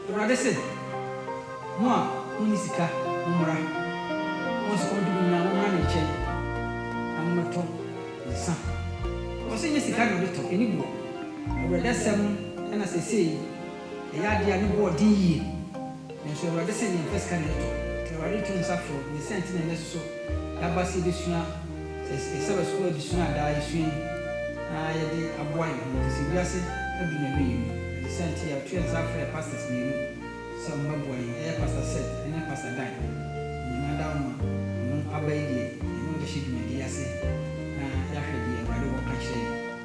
Awurade se, Mo a monni sika, mommra, mo a sukɔm de mo nyinaa, mommra me nkyɛn, na mommɛtɔ nsã. Ɔse, Nyɛ sika na ɔde tɔ, ɛne boɔ. Awurade asɛm na seesei ɛyɛ adeɛ a ne boɔ den yie. Nanso Awurade se yɛmpɛ sika na yɛtɔ. Awurade reto nsa frɛ ne sɛ nti na nnɛ soso yɛaba se yɛbɛsua yɛ Sabbath School adesua a daa yɛsua yi na yɛde aboa yɛn ho, efisɛ wiase adu n'awieɛ mu. Ɛne saa nti yɛato yɛn nsa afrɛ pastors mmienu sɛ wɔn bɛboa yɛn. Ɛyɛ Pastor Seth ne Pastor Dan. Onyame adao ma wɔn aba yi deɛ yɛne wɔn bɛhyɛ dwumadie yi ase na yɛahwɛ deɛ Awurade wɔ ka kyerɛ yɛn.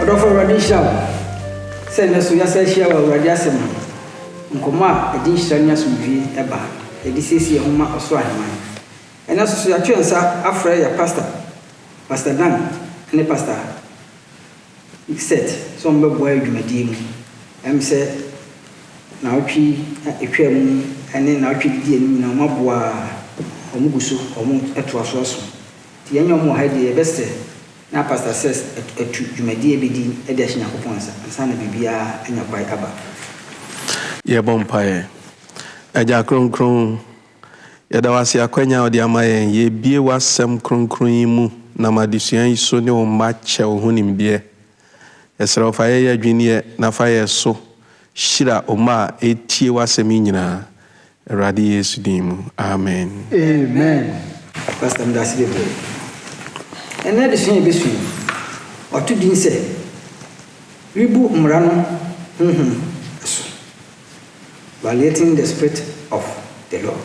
Ɔdɔfo Awurade nhyira wo sɛ nnɛ so yɛasan ahyia wɔ Awurade asɛm ho nkɔmmɔ a ɛde nhyira ne asomdwoe ba a yɛde siesie yɛn ho ma ɔsoro ahemman. Ɛnnɛ so nso yɛato yɛn nsa afrɛ yɛn pasta, Pastor Dan ne Pastor Seth sɛ wɔmmɛboa yɛn dwumadie mu. Ɛm sɛ naawɔtwe yi a ɛtwaa mu ne naawɔtwe a ɛdidi anim nyinaa wɔaboa a wɔgu so wɔtoa so asom. Sɛ yɛnyɛ wɔn wɔ ha deɛ, yɛbɛsrɛ na Pastor Sess atu dwumadie a yɛbɛdi de ahyɛ Nyankopɔn nsa ansa na biribiara anya kwae aba. Yɛbɔ mpaeɛ. Agya Kronkron, yɛda wo ase akwanya a wode ama yɛn, yɛrebue w'asɛm kronkron yi mu nam adesua yi so ne wo mma kyɛ wo ho nimdeɛ Yɛsrɛ wo fa yɛn yɛdwen yɛ na fa yɛ so hyira oma a ɛtie wasɛm yi nyinaa Awurade Yesu din mu Amen. Amen pastor medase bebree ɛnɛ adesua a yɛbɛsua yi wato din sɛ rebu mmara no honhom so violating the spirit of the law.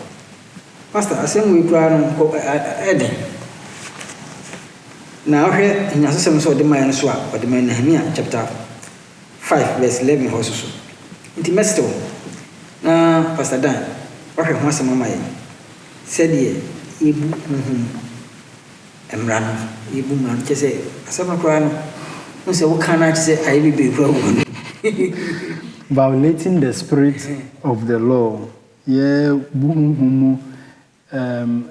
Pastor asɛm wei koraa no nkɔ ɛyɛ den na wohwɛ nnyinasosɛm no sɛ ɔde mayɛ no so a ɔde mayɛ Nehemia chapter 5 verse 11 hɔ so so nti mɛsrɛ wo na Pastor Dan wahwɛ ho asɛm ama yɛn sɛdeɛ yɛbu honhom mu mmara no yɛbu mmara no kyɛ sɛ asɛm no koraa no ho sɛ woka no akyɛ sɛ ayɛ bebree koraa wɔ mu Violating the spirit of the law Yɛbu honhom mu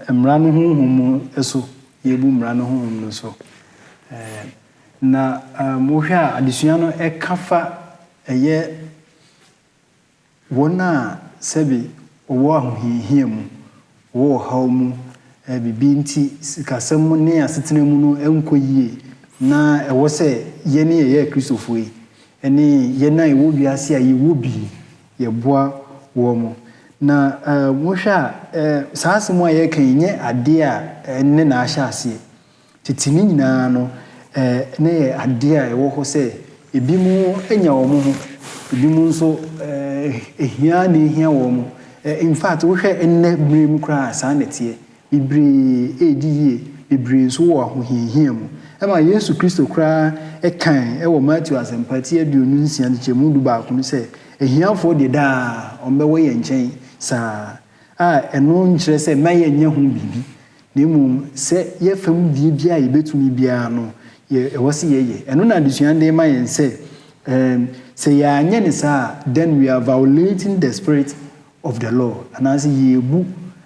mmara no honhom mu so. Yɛbu mmara no honhom no so. Na wohwɛ a, adesua no ka fa ɛyɛ wɔn a sɛbe wɔwɔ ahohiahia mu, wɔwɔ ɔhaw mu, biribi nti sikasɛm mu ne asetena mu no nkɔ yie na ɛwɔ sɛ yɛn a yɛyɛ Akristofoɔ yi ne yɛn a yɛwɔ wiase a yɛwɔ bi yɛboa wɔn. Na wohwɛ a, saa asɛm a yɛreka yi nyɛ adeɛ a ɛnnɛ na ahyɛ aseɛ. Tete no nyinaa no, na ɛyɛ adeɛ a ɛwɔ hɔ sɛ ebinom nya wɔn ho, ebinom nso hia ara na ɛhia wɔn. In fact, wohwɛ nnɛ berɛ mu koraa a, saa na ɛteɛ. bebree redi yie, bebree nso wɔ ahohiahia mu. Ɛma Yesu Kristo koraa kae wɔ Mateo Asɛmpa ti aduonu nsia nkyekyɛmu du baako no sɛ, Ahiafoɔ deɛ daa wɔbɛwɔ yɛn nkyɛn saa, a ɛno nkyerɛ sɛ na yɛnyɛ ho biribi, na mmom sɛ yɛn fam deɛ biara a yɛbɛtumi biara no, ɛwɔ sɛ yɛyɛ. Ɛno na adesua no de rema yɛn sɛ, sɛ yɛanyɛ no saa a, then we are violating the spirit of the law, anaasɛ yeebu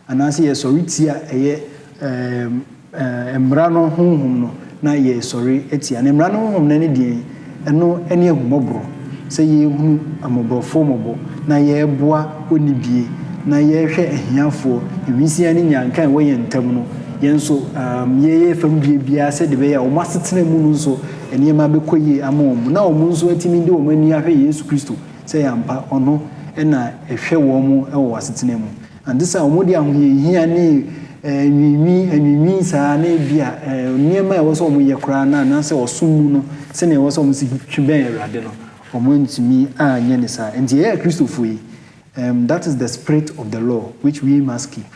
anaasɛ yɛsɔre tia ɛyɛ ɛɛ mmara no honhom no na yɛresɔre atia no. Mmara no honhom no ɛne deɛn? Ɛno ɛne ahummɔborɔ, sɛ yɛrehunu mmɔborɔfoɔ mmɔbɔ na yɛreboa onnibie na yɛrehwɛ ahiafoɔ, nwisiaa ne nyanka a ɛwɔ yɛn ntam no yɛn nso ɛɛm yɛyɛ fam deɛ biara sɛdeɛ ɛbɛyɛ a wɔn asetena mu no nso nneɛma bɛkɔ yie ama wɔn na wɔn nso atumi de wɔn ani ahwɛ Yesu Kristo. sɛ ɛyɛ ampa ɔno na ɛhwɛ wɔn wɔ wɔn asetena mu, ante saa a wɔde ahohiahia ne anwiinwii anwiinwii saa na ebia nneɛma a ɛwɔ sɛ wɔyɛ koraa no anaasɛ ɔsom mu no sɛnea ɛwɔ sɛ wɔsi twe bɛn Awurade no, wɔantumi anyɛ no saa. Enti yɛn a yɛyɛ Kristofo yi, that is the spirit of the law which we must keep.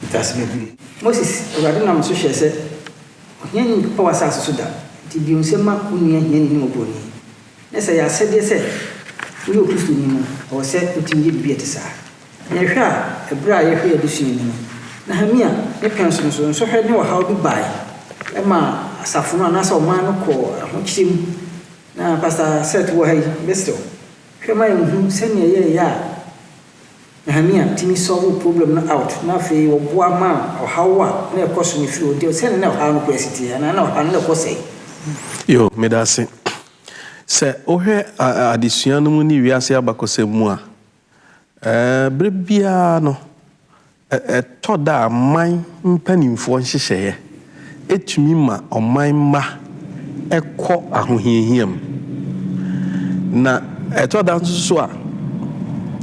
Ntase bɛhunu. Moses, Awurade nam me so hyɛɛ sɛ, Ohiani mpepa w'asase so da, enti di nsɛ ma wo nua hiani ne oburoni. Na sɛ ɛyɛ asɛdeɛ sɛ woyɛ Okristoni no, ɛwɔ sɛ wotumi yɛ biribi a ɛte saa. Na yɛhwɛ a, ɛberɛ a yɛhwɛ yɛn adesua mu no, Nehemia ne pɛnso no so nsɔhwɛ ne ɔhaw bi bae. Ɛmaa asafo no anaasɛ ɔman no kɔɔ ahokyerɛ mu. Na Pastor Seth wɔ ha yi, mɛsrɛ wo, hwɛ ma yɛnhu sɛdeɛ yɛyɛ a, Nehemia tumi solvoo problem no out na afei wɔboa maa ɔhaw a na ɛkɔ so no firi hɔ nti sɛdeɛ na ɔhaw no kɔ asi teɛ anaa na ɔhaw no na ɛkɔ sɛe. Yo, medase. Sɛ wohwɛ adesua no mu ne wiase abakɔsɛm mu a, ɛɛ, berɛ biara no Ɛtɔ da a man mpanimfoɔ nhyehyɛeɛ tumi ma ɔman mma kɔ ahohiahia mu. Na ɛtɔ da nso so a,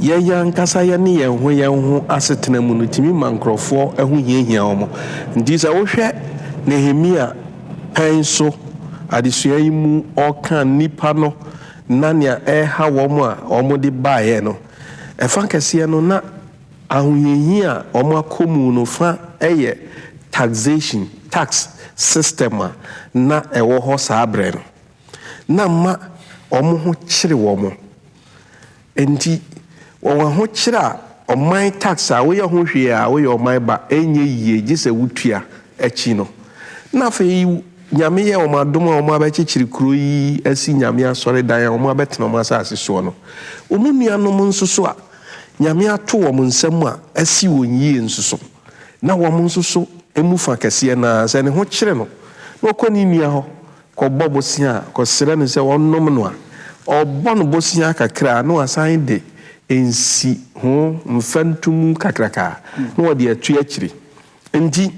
yɛn ankasa yɛne yɛn ho yɛn ho asetena mu no tumi ma nkurɔfoɔ ho hiahia wɔn. Enti sɛ wohwɛ Nehemia pɛn so adesua yi mu ɔreka nnipa no na nea ɛreha wɔn a wɔde baeɛ no, ɛfa kɛseɛ no na. Ahohiahia a wɔakɔ mu no fã yɛ taxation, tax, system a na ɛwɔ hɔ saa bere no. Ná mma wɔn ho kyere wɔn. Enti, wɔn ahokyere a ɔman tax a woyɛ ho hwee a woyɛ ɔman ba ɛnyɛ yiye gye sɛ wotua akyi no. Na afei Nyame yɛ wɔn adom a wɔabɛkyekyere kurow yi asi Nyame asɔredan a wɔabɛtena wɔn asase soɔ no. Wɔn nuanom nso so a. Nyame ato wɔn nsa mu a asi wɔn yie nso so, na wɔn nso so mu fa kɛseɛ no ara, sɛ ne ho kyere no na ɔkɔ ne nua hɔ kɔbɔ bosea kɔsrɛ no sɛ ɔnnom no a, ɔbɔ no bosea kakra na wasan de nsi ho mfɛntomu kakraka na ɔde ato akyire. Enti,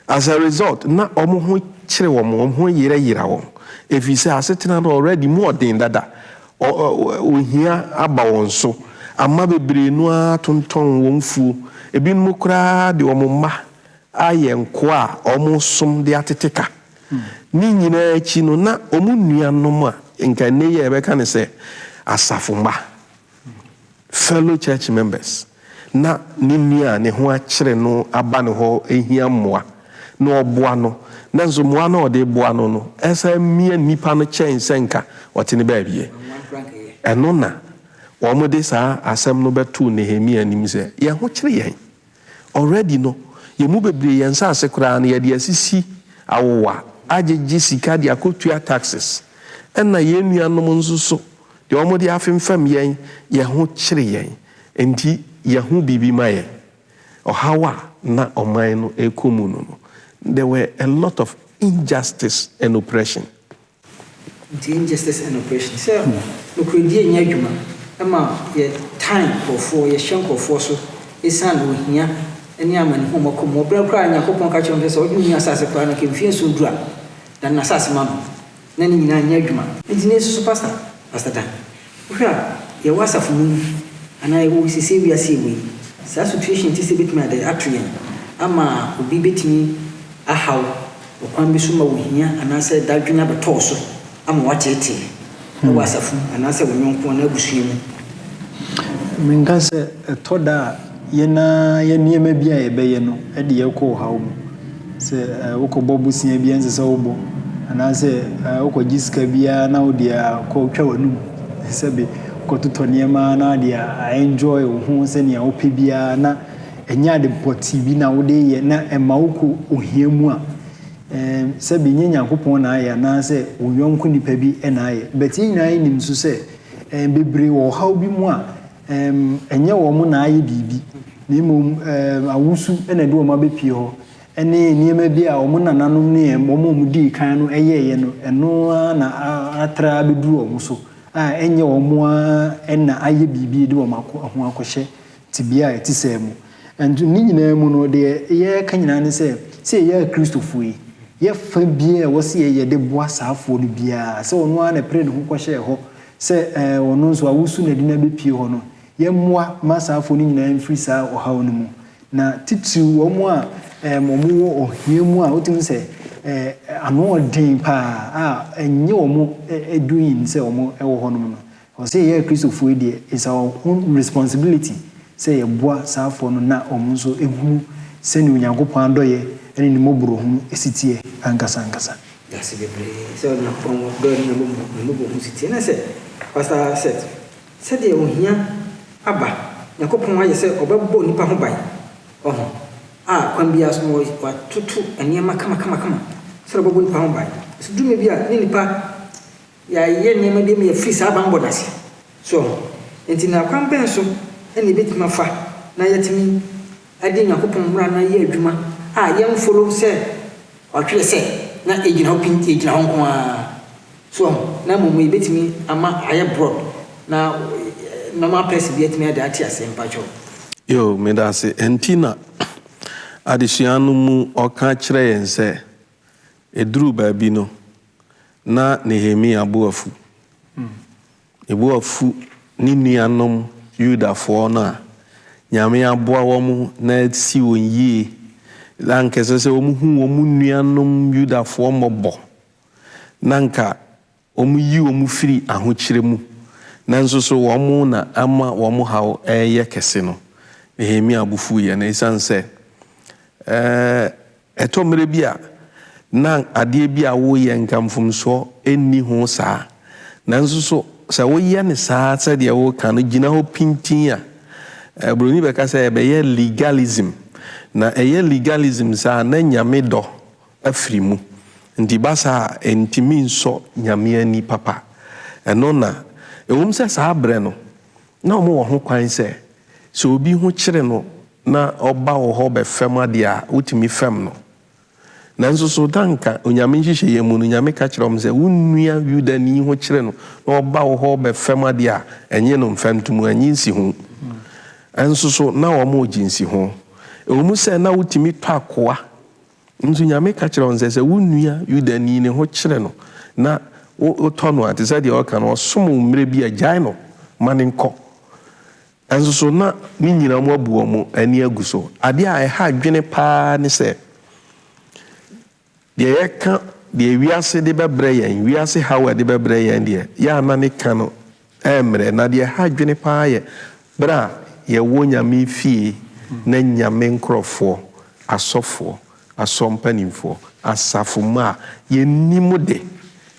as a result, na wɔn ho kyere wɔn, wɔn ho yera yera wɔn, efisɛ asetena no already mu ɔden dada, ɔ, ɔ, ohia aba wɔn so ama bebree no ara atontɔn wɔn mfuo. Ebinom koraa de wɔn mma ayɛ nkoa a wɔresom de atete ka. Ne nyinaa akyi no, na wɔn nuanom a nka nnɛ yi a yɛbɛka no sɛ asafo mma, Fellow church members, na ne nua a ne ho akyere no aba ne hɔ rehia mmoa, na ɔboa no, nanso mmoa no a ɔde reboa no no san mia nnipa no kyɛn sɛ anka ɔte ne baabi ɛ. Ɛno na wɔde saa asɛm no bɛtoo Nehemia anim sɛ, Yɛn ho kyere yɛn. Already no yɛn mu bebree yɛn nsaase koraa no yɛde asisi awowa, agyegye sika de akɔtua taxes, ɛna yɛn nuanom nso so deɛ wɔde afemfam yɛn, yɛn ho kyere yɛn, enti yɛho biribi ma yɛn. Ɔhaw a na ɔman no rekɔ mu no no, there were a lot of injustice and oppression. Nti injustice and oppression sɛ nokorɛdie nyɛ adwuma ɛma yɛ tan nkorɔfoɔ yɛhyɛ nkorɔfoɔ so ɛsiane ohia ne amanehunu ɔmɔ kɔ mu wɔ berɛ koraa Nyankopɔn ka kyerɛ mo sɛ sɛ ɔde mo yi asase koraa no nka mfie nson duru a dane asase ma no na ne nyinaa nyɛ adwuma. Nti ne nsusu pastor pastor Dan Wohwɛ a, yɛwɔ asafo mu yi, anaa yɛwɔ seesei wiase a yɛwɔ yi, saa situation te sɛ betumi ade ato yɛn ama obi betumi ahaw ɔkwan bi so ma ohia anaasɛ dadwen abɛtɔ wo so ama woateetee wɔ asafo mu anaasɛ wo yɔnko anaa abusua mu. Menka sɛ ɛtɔ da a. Yɛn ara yɛn nneɛma bi a yɛbɛyɛ no de yɛn kɔ ɔhaw mu. Sɛ wokɔbɔ bosea bi a ɛnsɛ sɛ wobɔ, anaasɛ wokɔgye sika bi ara na wode akɔtwa w'anum, sɛbe wokɔtotɔ nneɛma na wode a-enjoy wo ho sɛnea wopɛ bi ara na ɛnyɛ ade pɔtee bi na wode reyɛ na ɛma wokɔ ohia mu a, sɛbe nyɛ Nyankopɔn na ayɛ anaasɛ wo yɔnko nipa bi na ayɛ. But yɛn nyinaa nim nso sɛ bebree wɔ ɔhaw bi mu a, Ɛm, ɛnyɛ wɔn na ayɛ biribi, na mmom, ɛm, awosu na ɛde wɔn abɛpue hɔ, ne nneɛma bi a wɔn nananom ne ɛm, wɔn a wɔdii kan no yɛeɛ no, ɛno ara na a, atra abɛduru wɔn so, a ɛnyɛ wɔn ara na ayɛ biribi de wɔn akɔ, ho akɔhyɛ tebea a ɛte saa mu. Nso ne nyinaa mu no, deɛ yɛreka nyinaa ne sɛ, sɛ yɛyɛ Akristofoɔ yi, yɛfa biara a ɛwɔ sɛ yɛyɛ de boa saafoɔ no biara, sɛ ɔno ara na ɛpere ne ho kɔhyɛɛ hɔ Sɛ ɔno nso awosu na ɛde no abɛpue hɔ no, yɛmmoa mma asaafoɔ no nyinaa mfiri saa ɔhaw no mu, na titiriw wɔn a wɔwɔ ohia mu a wotumi hu sɛ ano yɛ den pa ara a ɛnyɛ wɔn doing sɛ wɔwɔ hɔnom no. Ɛwɔ sɛ yɛn Akristofoɔ yi deɛ, it's our own responsibility sɛ yɛboa saafoɔ no na wɔn nso hunu sɛdeɛ Onyankopɔn adɔeɛ ne ne mmɔborɔhunu si teɛ ankasa ankasa. Yɛase bebree sɛ Onyankopɔn wɔ dɔ ne ne mmɔbɔhu so tie. Na sɛ Pastor Seth, sɛdeɛ ohia aba, Nyankopɔn ayɛ sɛ ɔbɛbɔ nnipa ho ban, ɔho, a kwan biara so no watoto nneɛma kama kama kama sɛdeɛ ɔbɛbɔ nnipa ho ban. Nanso duru mmerɛ bi a ne nnipa. Yɛayɛ nneɛma bi ama yɛafiri saa bammɔ no ase. So enti na kwan bɛn so na yebetumi afa na yɛatumi adi Onyankopɔn mmara no ayɛ adwuma a yɛmforo sɛ ɔtwerɛ sɛ na egyina hɔ pintinn, egyina hɔ nko ara? So na mmom yebetumi ama ayɛ broad na normal person bi atumi de ate aseɛ? Mpakyɛw. Yoo, medase. Ɛnti na adesua no mu ɔka kyerɛ yɛn sɛ ɛduru baabi no, Ná Nehemia bo afu. Ne bo afu ne nuanom Yudafoɔ no a Nyame aboa wɔn na asi wɔn yie, na anka ɛsɛ sɛ wɔhu wɔn nuanom Yudafoɔ mmɔbɔ, na anka wɔyi wɔn firi ahokyerɛ mu, nanso so wɔn na ama wɔn haw reyɛ kɛse no, Nehemia bo fuiɛ. Na ɛsiane sɛ Ɛtɔ mmere bi a, na adeɛ bi a woreyɛ nka mfomsoɔ nni ho saa. Nanso so sɛ woyɛ no saa sɛdeɛ woreka no gyina hɔ pintinn a, Buroni bɛka sɛ ɛbɛyɛ legalism. Na ɛyɛ legalism saa a, na Nyame dɔ afiri mu. Nti ba saa a, ɛntumi nsɔ Nyame ani papa. Ɛno na, ɛwom sɛ saa berɛ no, Ná wɔwɔ hokwan sɛ, sɛ obi ho kyere no na ɔba wo hɔ bɛfɛm ade a, wotumi fɛm no. Nanso so na anka Onyame nhyehyɛeɛ mu no, Nyame ka kyerɛ wɔn sɛ, Wo nua Yudani ho kyere no na ɔba wo hɔ bɛfɛm ade a, nnye no mfa ntom, nnye nsi ho? Nso so na wɔgye nsi ho, ɛwɔ mu sɛ na wotumi tɔ akoa Nso Nyame ka kyerɛ wɔn sɛ, sɛ wo nua Yudani ne ho kyere no na wotɔ no a, te sɛ deɛ ɔreka no, ɔsom wo mmerɛ bi a, gyae no ma no nkɔ. Nanso so na ne nyinaa mu abu wɔn ani agu so? Adeɛ a ɛha adwene pa ara ne sɛ, deɛ yɛka deɛ wiase de bɛbrɛ yɛn, wiase haw a ɛde bɛbrɛ yɛn deɛ, yɛ a na ne ka no Ɛremmrɛ. Na deɛ ɛha adwene pa ara yɛ berɛ a yɛwɔ Nyame fie na Nyame nkorɔfoɔ, asɔfoɔ, asɔr mpanimfoɔ, asafo mma a yɛnnim de,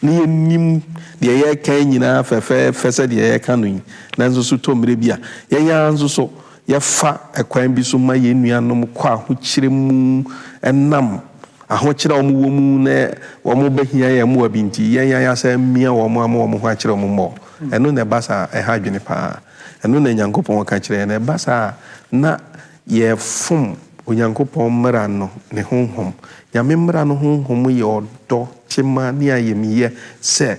na yɛnnim deɛ yɛreka yi nyinaa fɛfɛɛfɛ sɛdeɛ yɛreka no yi, nanso so tɔ mmerɛ bi a, yɛn ara nso so Yɛfa kwan bi so ma yɛn nuanom kɔ ahokyerɛ mu ɛnam ahokyerɛ a wɔwɔ mu na wɔbɛhia yɛn mmoa bi nti. Yɛn yan asan amia wɔn ama wɔn ho akyerɛ wɔn mmɔ. Ɛno na ɛba saa a, ɛha adwene paa. Ɛno na Onyankopɔn ka kyerɛ yɛn. Ɛba saa a, na yɛrefom Onyankopɔn mmara no ne honhom. Nyame mmara no honhom yɛ ɔdɔ, tema, ne ayamyɛ sɛ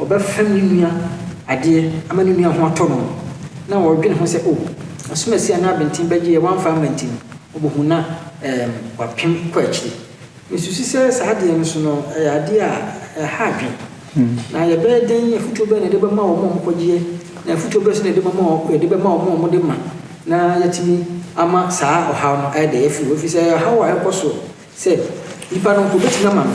Ɔbɛfɛm ne nua adeɛ ama ne nua ho atɔ no, na ɔredwene ho sɛ, O, asomasie a na abenten bɛgyeɛ wamfa amma nti no, ɔbɛhu na ɛɛm wapem kɔ akyiri. Mesusu sɛ saa adeɛ no nso no, ɛyɛ adeɛ a ɛha adwene. Na yɛbɛyɛ dɛn, afotuo bɛn na yɛde bɛma wɔn a wɔkɔgyeɛ, na afotuo bɛn nso na yɛde bɛma wɔn a yɛde bɛma wɔn a wɔde ma na yɛatumi ama saa ɔhaw no ayɛ dɛ afiri hɔ? Ɛfiri sɛ, ɛyɛ ɔhaw a ɛkɔ so sɛ nnipa no nko bɛtumi ama no.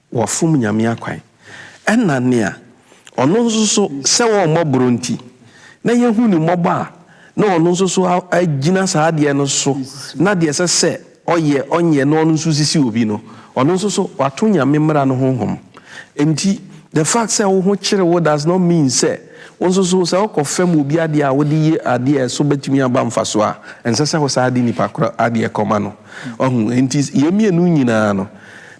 Wɔfom Nyame akwan. Ɛna nea Ɔno nso so sɛ ɔmmɔ boro nti, na yɛhu Ne mmɔbɔ a na Ɔno nso so agyina saa adeɛ no so na deɛ ɛsɛ sɛ ɔyɛ ɔnyɛ na ɔno nso sisi obi no, ɔno nso so wato Nyame mmara no ho hom. Nti the fact sɛ wo ho kyere wo does not mean sɛ wo nso so sɛ wokɔ fɛm obi adeɛ a wode ye adeɛ a ɛso bɛtumi aba mfasoɔ a, ɛnsɛ sɛ wo saa de nipa korɔ adeɛ kɔma no. Wahu? Nti yei mmienu nyinaa no,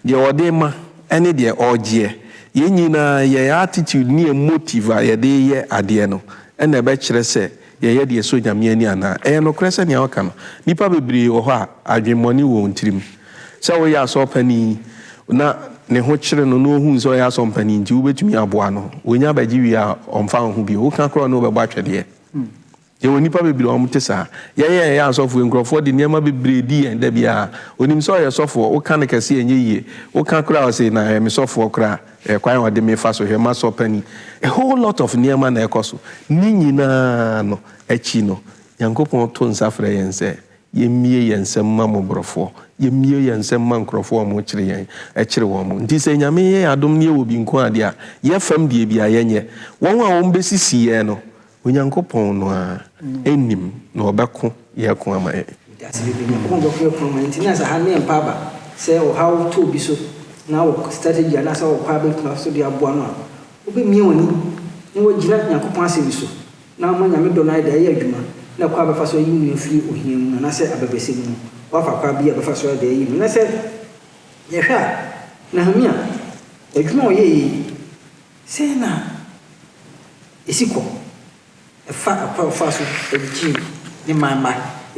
Deɛ ɔde rema ɛne deɛ ɔregyeɛ, yɛn nyinaa yɛn attitude ne yɛn motive a yɛde reyɛ adeɛ no na ɛbɛkyerɛ sɛ yɛyɛ deɛ ɛsɔ Nyame ani anaa. Ɛyɛ nokorɛ sɛnea woka no, nnipa bebree wɔ hɔ a adwemmɔne wɔ wɔn tirim. Sɛ woyɛ asɔɔpani na ne ho kyere no na ɔhunu sɛ ɔyɛ asɔmpani nti wobɛtumi aboa no, ɔnya bɛgye wie a ɔmfa wo ho bio, woka koraa ɔne wo bɛbɔ atwɛdeɛ. Yɛwɔ nnipa bebree a wɔte saa. Yɛn a yɛyɛ asɔfo yi, nkurɔfoɔ de nneɛma bebree di yɛn da biara. Ɔnim sɛ ɔyɛ sɔfoɔ, woka no kɛse a ɛnyɛ yie. Woka koraa a, ɔse, na ɔyɛ me sɔfoɔ koraa, ɛyɛ kwan a ɔde me fa so hwɛ m'asɔ panin. A whole lot of nneɛma na ɛkɔ so. Ne nyinaa no akyi no, Nyankopɔn to nsa frɛ yɛn sɛ, yɛmmue yɛn nsam mma mmɔborɔfoɔ, yɛmmue yɛn nsam mma nkurɔfoɔ a wɔkyere yɛn, ɛkyere wɔn. Nti sɛ Nyame yɛ yɛn adom na yɛwɔ bi nko ara deɛ a, yɛfam deɛ bi a, yɛnyɛ. Wɔn a wɔbɛsisi yɛn no, Onyankopɔn no ara nim na ɔbɛko yɛn ako ama yɛn. Wiase bebree Nyankopɔn bɛko yɛn ako ama yɛn nti na sɛ ha ne yɛn pa aba sɛ ɔhaw to obi so na wɔ strategy anaasɛ wɔ kwa bɛtena so de aboa no a, wobɛmia w'ani na woagyina Nyankopɔn asɛm so na ama Nyame dɔ no ayɛ dɛ ayɛ adwuma na kwa a bɛfa so ayi wo afiri ohia mu anaasɛ abɛbrɛsɛ mu no woafa kwa bi a bɛfa so ayɛ dɛ ayi mu na sɛ yɛhwɛ a Nehemia adwuma a ɔyɛeɛ yi Sɛn na esi kɔ fa ɔkwan a ɔfaa so de gyee ne man mma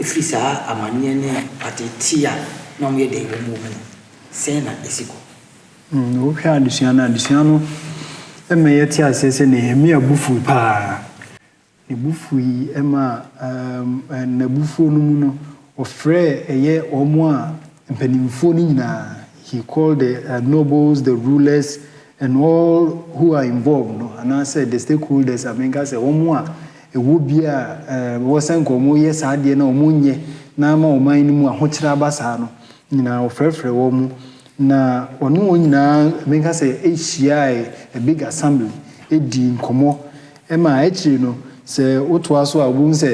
fii saa amanneɛ ne ateetee a na wɔyɛ dɛn wom wɔ mu no? Sɛn na esi kɔ? Wohwɛ adesua no a, adesua no ma yɛte aseɛ sɛ Nehemia bo fuw paa. Ne bo fuui ma n'abufuo no mu no, ɔfrɛɛ ɛyɛ wɔn a mpanimfoɔ no nyinaa, he called the nobles, the rulers and all who are involved no, anaasɛ the stakeholders a menka sɛ wɔn a ɛwɔ bi a ɛwɔ sɛ nka wɔyɛ saa adeɛ no a wɔnyɛ na ama ɔman no mu ahokyerɛ aba saa no nyinaa, ɔfrɛfrɛɛ wɔn na ɔne wɔn nyinaa, menka sɛ hyiaae, a big assembly, dii nkɔmmɔ Ɛma akyiri no, sɛ wotoa so a, wobɛhu sɛ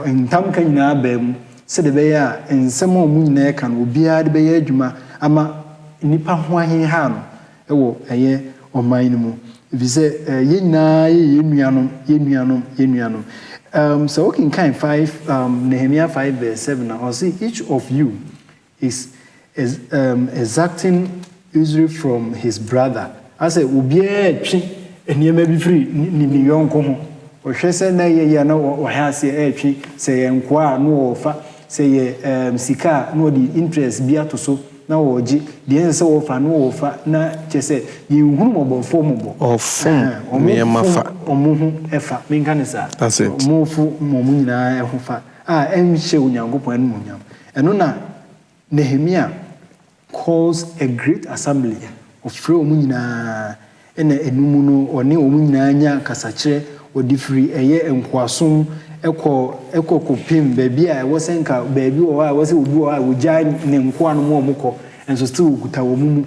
ntamka nyinaa baa mu sɛdeɛ ɛbɛyɛ a nsɛm a wɔn nyinaa reka no, obiara de bɛyɛ adwuma ama nnipa ho aheha no wɔ ɛyɛ ɔman no mu. Ɛfiri sɛ yɛn nyinaa yɛ yɛn nuanom, yɛn nuanom, yɛn nuanom. Sɛ wokenkan five, Nehemia five verse seven a, ɔse, Each of you Is um exacting usury from his brother, asɛ obiara retwe nneɛma bi firi ne ne yɔnko ho. Ɔhwɛ sɛ na ɛyɛ yie a na ɔhɛ aseɛ retwe, sɛ yɛ nkoa a na ɔrefa, sɛ yɛ um sika a na ɔde interest bi ato so na ɔregye, deɛ ɛnsɛ sɛ ɔfa na ɔrefa, na kyɛ sɛ yɛnhunu mmɔbɔfoɔ mmɔbɔ. Ɔfom nneɛma fa. Wɔn fom wɔn ho fa, menka no saa, wɔn fo wɔn nyinaa ho fa a ɛnhyɛ Onyankopɔn animuonyam. Ɛno na Nehemia calls a great assembly, ɔfrɛ wɔn nyinaa, ɛna ɛnum no ɔne wɔn nyinaa nya kasakyerɛ, wɔde firi ɛyɛ nkoasom kɔ kɔ kɔpem baabi a ɛwɔ sɛ nka baabi wɔ hɔ a ɛwɔ sɛ obi wɔ hɔ a wɔgyae ne nkoa no ma wɔn kɔ, nso still wɔkuta wɔn mu,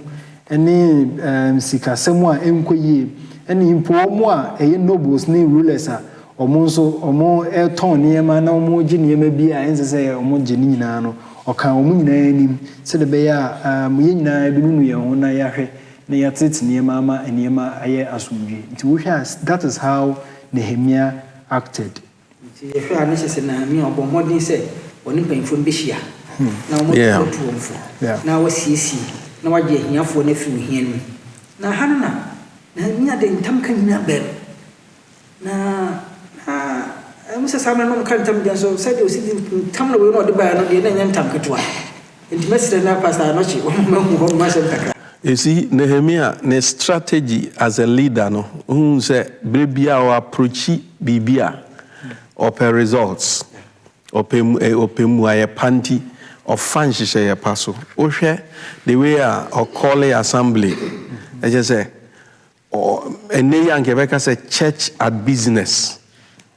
ɛne sikasɛm a ɛnkɔ yie, ɛne mpo wɔn a ɛyɛ nobles ne rulers a Wɔn nso, wɔretɔn nneɛma na wɔregye nneɛma bi a ɛnsɛ sɛ wɔgye no nyinaa no, ɔkaa wɔn nyinaa anim, sɛdeɛ ɛbɛyɛ a yɛn nyinaa yɛbɛnunu yɛn ho na yɛahwɛ na yɛatete nneɛma ama nneɛma ayɛ asomdwoeɛ. Nti wohwɛ a, that is how Nehemiah acted. Nti yɛhwɛ a, na ɛsɛ sɛ Nehemiah ɔbɔ mmɔden sɛ ɔne mpanyimfoɔ no bɛhyia, na wɔatu wɔn fo, na wasiesie, na wagye ahiafoɔ no afiri ohia no mu. Na ɛha no na Nehemiah de ntamka nyinaa baam. Na na ɛwom sɛ saa mmere no na wɔka ntam de nanso sɛdeɛ ɔsi di ntam na wei na ɔde baeɛ no deɛ na ɛnyɛ ntam ketewa. Enti mɛsrɛ na Pastor Anokye wama mahu hɔnom asɛm kakra. You see, Nehemiah ne strategy as a leader no, wohu sɛ berɛ biara ɔ approachi biribi a, ɔpɛ results, ɔpɛ ɔpɛ mmuaeɛ pa nti ɔfa nhyehyɛeɛ pa so. Wohwɛ the way a ɔ call assembly, ɛkyerɛ sɛ Ɛnnɛ yi anka yɛbɛka sɛ church at business.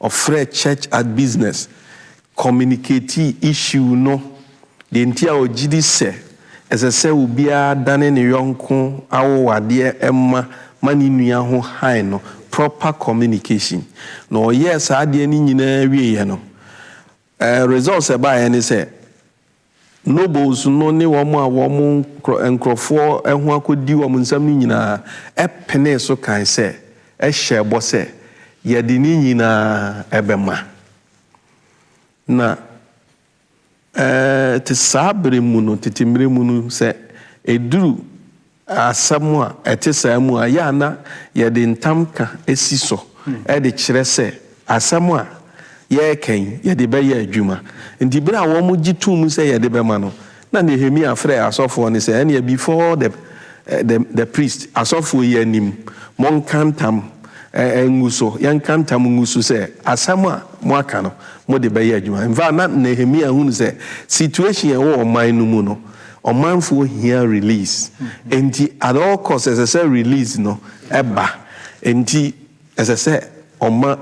Ɔfrɛɛ church at business communicatii issue no, deɛ nti a ɔgye di sɛ ɛsɛ sɛ obiara dane ne yɔnko awowadeɛ mma ma ne nua ho hann no, proper communication. Na ɔyɛɛ saa adeɛ no nyinaa wieeɛ no, results a ɛbaeɛ ne sɛ Nobles no ne wɔn a wɔn nkurɔfoɔ ho akɔdi wɔn nsam no nyina ara penee so kae sɛ, hyɛɛ bɔ sɛ, Yɛde ne nyina ara bɛma. Na te saa berɛ mu no, tete mmerɛ mu no, sɛ ɛduru Asɛm a ɛte saa mu a, ɛyɛ a na yɛde ntamka si so de kyerɛ sɛ asɛm a yɛreka yi, yɛde bɛyɛ adwuma. Enti bere a wɔgye toom sɛ yɛde bɛma no, na Nehemia frɛɛ asɔfoɔ no sɛ, Ɛnneɛ, before the the the priest, asɔfoɔ yi anim, monka ntam ngu so, yɛnka ntam ngu so sɛ asɛm a moaka no, mode bɛyɛ adwuma. In fact, na Nehemia hunu sɛ situation a ɛwɔ ɔman no mu no, Ɔmanfoɔ hia release nti at all cost ɛsɛ sɛ release no ba nti ɛsɛ sɛ ɔma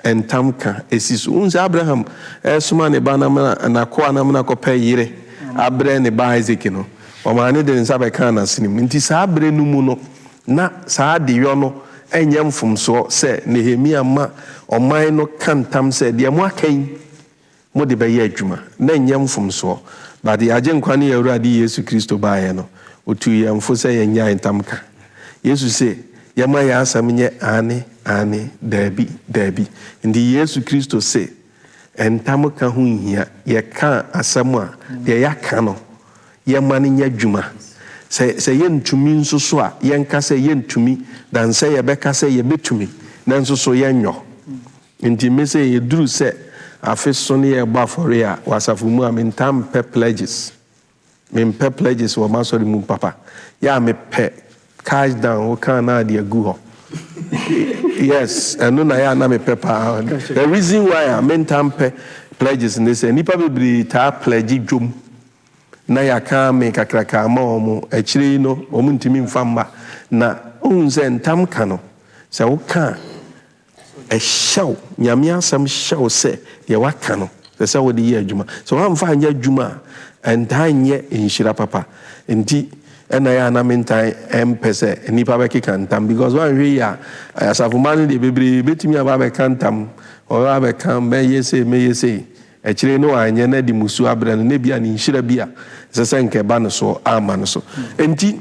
ntam ka si so. Wohu sɛ Abraham resoma ne ba no amena, n'akoa no amena kɔpɛ yere abrɛ ne ba Isaac no, ɔmaa no de ne nsa bɛkaa n'asene mu. Nti saa berɛ no mu no, na saa adeyɔ no nyɛ mfomsoɔ sɛ Nehemia ma ɔman no ka ntam sɛ, Deɛ moaka yi, mo de bɛyɛ adwuma, na ɛnyɛ mfomsoɔ, but yɛn Agyenkwa ne yɛn Awurade Yesu Kristo baeɛ no, Ɔtuu yɛn fo sɛ yɛnnyae ntamka. Yesu se, yɛmma yɛn asɛm nyɛ aane, aane, daabi, daabi. Nti Yesu Kristo se ntamka ho nhia, yɛka asɛm a, deɛ yɛaka no, yɛmma no nyɛ adwuma. Sɛ, sɛ yɛntumi nso so a, yɛnka sɛ yɛntumi, than sɛ yɛbɛka sɛ yɛbɛtumi, nanso so yɛnyɔ. Enti me sɛ eduru sɛ afe so ne yɛrebɔ afɔre a wɔ asafo mu a mentaa mpɛ pledges. Mempɛ pledges wɔ m'asɔre mu papa. Yɛ a mepɛ cash down wo kaa na de agu hɔ. Yes, ɛno na yɛ a na mepɛ paa. The reason why a mentaa mpɛ pledges ne sɛ nnipa bebree taa pledge dwom na yɛaka amen kakraka ama wɔn, akyire yi no wɔntumi mfa mma. Na wohu sɛ ntam ka no sɛ woka a, Ɛhyɛ wo, Nyame asɛm hyɛ wo sɛ deɛ waka no ɛsɛ sɛ wode yɛ adwuma. Sɛ woamfa anyɛ adwuma a, ɛntaa nyɛ nhyira papa. Nti na ɛyɛ a na mentaa mpɛ sɛ nnipa bɛkeka ntam because woanhwɛ yie a, asafo mma no deɛ bebree bɛtumi aba abɛka ntam, wɔbɛba abɛka mɛyɛ sei mɛyɛ sei, akyire yi na wanyɛ na de mmusuo abrɛ no na ebia ne nhyira bi a ɛsɛ sɛ nka ɛba ne soɔ amma no so. Nti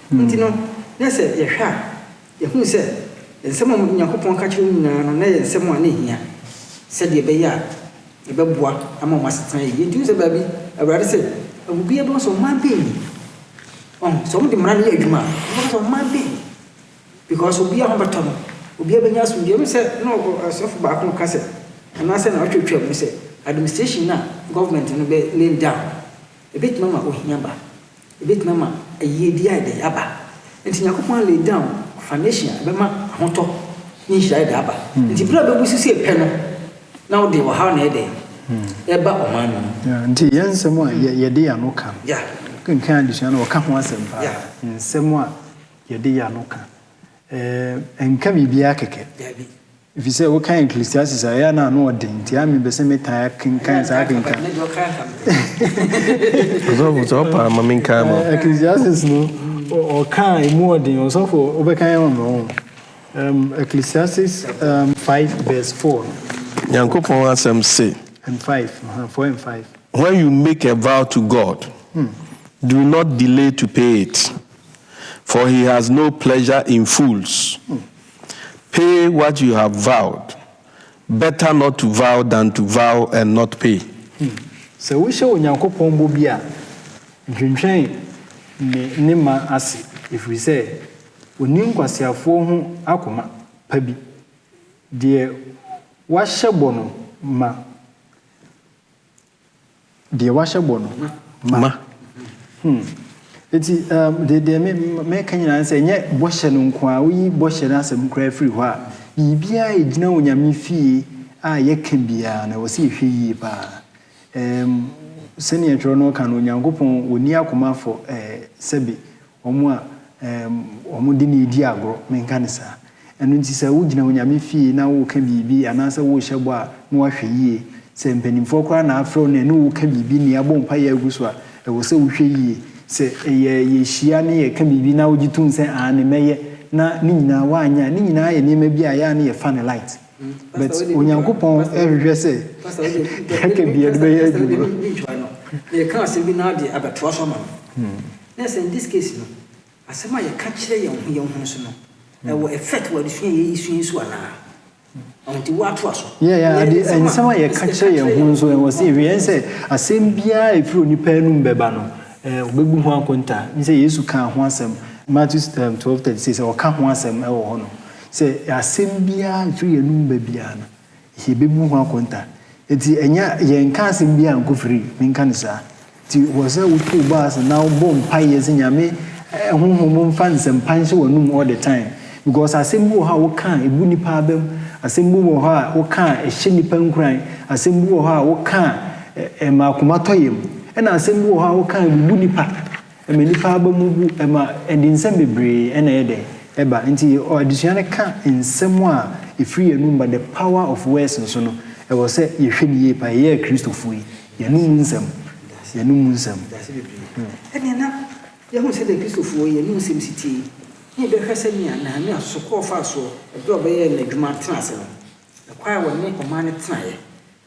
Enti no, na sɛ yɛhwɛ a, yehu sɛ nsɛm a Onyankopɔn ka kyerɛ no nyinaa no, na ɛyɛ nsɛm a na ehia sɛnea ɛbɛyɛ a ɛbɛboa ama wɔn asetena ayɛ yiye. Enti wohu sɛ baabi Awurade se, Obiara bɛhu sɛ ɔman bɛn ni. Ɔho, sɛ wɔde mmara no yɛ adwuma a, wɔbɛka sɛ ɔman bɛn ni. Because obiara ho bɛtɔ no, obiara bɛnya asomdwoe. Ɛno sɛ na ɔsɔfo baako reka sɛ, anaasɛ na ɔtwatwaa mu sɛ, administration a government no bɛ lay down no, ebetumi ama ohia aba. Ebetumi ama ayiyedi a ɛdɛ aba. Enti Nyankopɔn lay down foundation a ɛbɛma ahotɔ ne nhyira a ɛdɛ aba. Enti bere a bebu so sɛ pɛ no, na wode ɔhaw na ɛyɛ dɛ? Ɛreba ɔman no mu. Yeah, nti yɛn nsɛm a yɛde yɛn ano ka no, Yeah. wokenkan adesua no a, wɔka ho asɛm paa. Yeah. Nsɛm a yɛde yɛn ano ka. Ɛɛ, ɛnka biribiara kɛkɛ. Dabi. Efisɛ wokan Ecclesiastes a, ɛyɛ a na ano ɔden, nti ara mepɛ sɛ metaa kenkan saa akenkan. Ɔsɔfo, sɛ ɔpa a, ma menkan ama wo. Ecclesiastes no, ɔka a emu ɔden. Ɔsɔfo, wobɛkan ama me ɔho. Ecclesiastes five verse four no. Nyankopɔn asɛm se. And five, uh-huh, four and five. When you make a vow to God, do not delay to pay it, for He has no pleasure in fools. Pay what you have vowed, better not to vow than to vow and not pay. Sɛ wohyɛ Onyankopɔn bɔ bi a, ntwentwɛn ne ne ma ase, ɛfiri sɛ ɔnni nkwaseafoɔ ho akoma pa bi. Deɛ wahyɛ bɔ no ma. Deɛ wahyɛ bɔ no, ma. Ma. Hmm. Eti um, deɛ deɛ me mɛka nyinaa ne sɛ ɛnyɛ bɔhyɛ no nko ara, woyi bɔhyɛ no asɛm koraa firi hɔ a, biribiara a ɛgyina Onyame fie a yɛka biara no, ɛwɔ sɛ yɛhwɛ yie paa. Um, sɛnea twerɛ no ka no, Onyankopɔn, ɔnni akoma afɔ, eh, sɛbe Wɔn a wɔde no redi agorɔ, menka no saa. Ɛno nti sɛ wogyina Onyame fie na woreka biribi anaasɛ worehyɛ bɔ a, na woahwɛ yie. Sɛ mpanimfoɔ koraa na afrɛ wo na ɛne wo reka biribi ne abɔ mpaeɛ agu so a, ɛwɔ sɛ wohwɛ yie. Sɛ ɛyɛ yɛhyia ne yɛka biribi na wogye tom sɛ aane mɛyɛ na ne nyinaa woanyɛ a, ne nyinaa yɛ nneɛma bi a ɛyɛ a na yɛfa no light. But Onyankopɔn hwehwɛ sɛ deɛ yɛka biara de bɛyɛ adwuma. Pastor wode me ntwa no. Meka asɛm bi na wode abɛtoa so ama me. Yes, in this case no, asɛm a yɛka kyerɛ yɛn ho yɛn ho nso no, ɛwɔ effect wɔ adesua a yɛresua yi so anaa? Ɔho nti woatoa so. Yeah, yeah, ade, nsɛm a yɛka kyerɛ yɛn ho nso, ɛwɔ sɛ yɛhwɛ yɛn sɛ asɛm biara a ɛfiri onipa anum bɛba no, eh, wɔbɛbu ho akonta. Menim sɛ Yesu kaa ho asɛm, Matthew um, 12:36, sɛ ɔka ho asɛm wɔ hɔ no, sɛ asɛm biara a ɛfiri yɛn anum ba biara no, Yɛbɛbu ho akonta. Enti ɛnyɛ, yɛnka asɛm biara nkɔ firi, menka no saa. Nti wɔ sɛ wotow bɔ ase na wobɔ mpaeɛ sɛ Nyame honhom mfa nsɛmpa nhyɛ w'anom all the time. Because asɛm bi wɔ hɔ a woka a ɛbu nnipa abam, asɛm bi wɔ hɔ a woka a ɛhyɛ nnipa nkuran, asɛm bi wɔ hɔ a woka a ɛma akoma tɔ yam, ɛna asɛm bi wɔ hɔ a woka a ɛbubu nnipa. Ɛma nnipa aba mu bu, ɛma ɛde nsɛm bebree na ɛyɛ dɛ? Ɛba. Nti adesua no ka nsɛm a ɛfiri yɛn anom ba, the power of words nso no, ɛwɔ sɛ yɛhwɛ no yie paa. Yɛyɛ Akristofoɔ yi, yɛn anom mu nsɛm, yɛn anom mu nsɛm. Yɛase bebree. Ɛnneɛ na yɛahunu sɛdeɛ Akristofoɔ yɛn anom nsɛm si teɛ yi, na yɛbɛhwɛ sɛdeɛ Nehemia sosokɔɔ faa soɔ berɛ a ɔbɛyɛɛ n'adwuma tenaa ase no, ɛkwan a ɔne ɔman no tenaeɛ.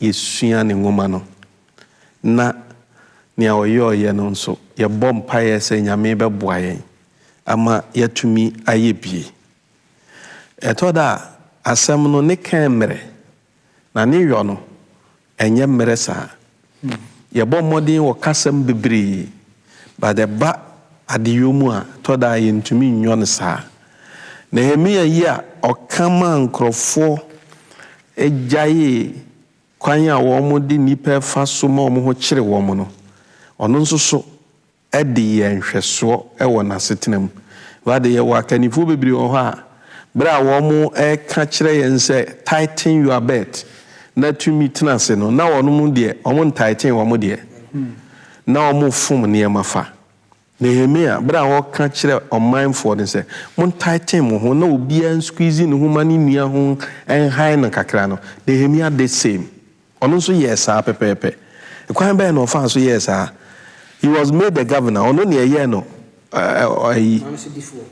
yesua ne nwoma no, na nea ɔyɔeɛ no nso, yɛbɔ mpaeɛ sɛ Nyame bɛboa yɛn ama yɛatumi ayɛ bie. Ɛtɔ da a, asɛm no ne kɛn mmerɛ, na ne yɔ no, ɛnyɛ mmerɛ saa. Yɛbɔ mmɔden wɔ kasam bebree, but ɛba adeyɔ mu a, ɛtɔ da a yɛntumi nyɔ no saa. Nehemia yi a ɔka maa nkurɔfoɔ gyaee kwan a wɔde nnipa fa so ma wɔn ho kyere wɔn no, ɔno nso so de yɛɛ nhwɛsoɔ wɔ n'asetena mu. Wo ara de, yɛwɔ akannifoɔ bebree wɔ hɔ a, berɛ a wɔreka kyerɛ yɛn sɛ tighten your belt na tumi tena ase no, na wɔn deɛ, wɔntighten wɔn deɛ, na wɔfom nneɛma fa. Nehemia, berɛ a ɔreka kyerɛ ɔmanfoɔ no sɛ, Montighten mo ho na obiara nsqueeze ne ho ma ne nua ho nhan no kakra no, Nehemia did same. Ɔno nso yɛɛ saa pɛpɛɛpɛ. Kwan bɛn na ɔfaa so yɛɛ saa? He was made a governor, ɔno na yɛyɛɛ no ayi,